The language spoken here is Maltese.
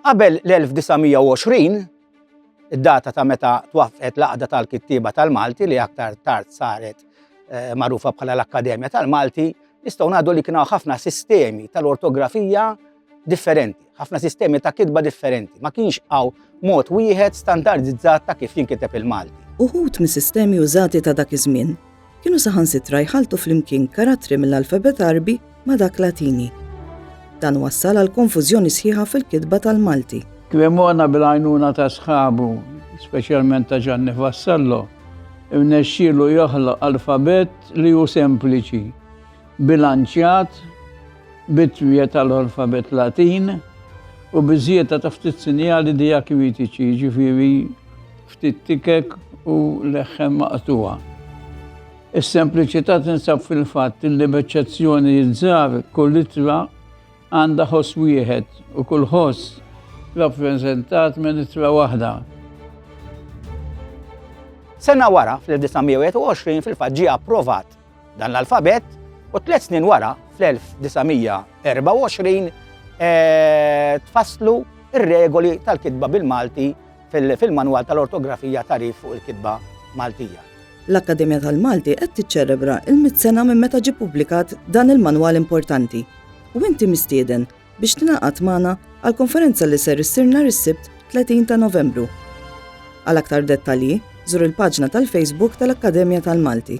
Qabel l-1920, id-data ta' meta twaffqet l-Aqda tal-Kittieba tal-Malti li aktar tard saret eh, magħrufa bħala l-Akkademja tal-Malti, nistgħu ngħidu li kienu ħafna sistemi tal-ortografija differenti, ħafna sistemi ta' kitba differenti. Ma kienx hawn mod wieħed standardizzat ta' kif jinkiteb il-Malti. Uħud mis-sistemi użati ta' dak iż-żmien kienu saħansitra jħalltu flimkien karattri mill-alfabet Għarbi ma' dak Latini. Dan wassal għal konfużjoni sħiħa fil-kitba tal-Malti. Cremona bil-għajnuna ta' sħabu, speċjalment ta' Ġanni Vassallo, irnexxielu joħloq alfabet li hu sempliċi, bilanċjat, bit-twiegħed tal-alfabet Latin u biż-żieda ta' ftit sinjali dijakritiċi, jiġifieri Ftit tikek u leħħem maqtugħa. Is-sempliċità tinsab fil-fatt li b'eċċezzjonijiet żgħar kull ittra għandha ħoss wieħed u kull ħoss rappreżentat minn ittra waħda. Sena wara, fl-1921, fil-fatt ġie approvat dan l-alfabet u tliet snin wara, fl-1924, eh, tfasslu ir-regoli tal-kitba bil-Malti fil-Manwal tal-Ortografija tagħrif fuq il-kitba Maltija. L-Akkademja tal-Malti qed tiċċelebra l-mitt sena minn meta ġie ppubblikat dan il-manwal importanti u inti mistieden biex tingħaqad magħna għal konferenza li ser issir nhar is-Sibt 30 ta' Novembru. Għal aktar dettalji, żur il-paġna tal-Facebook tal-Akkademja tal-Malti.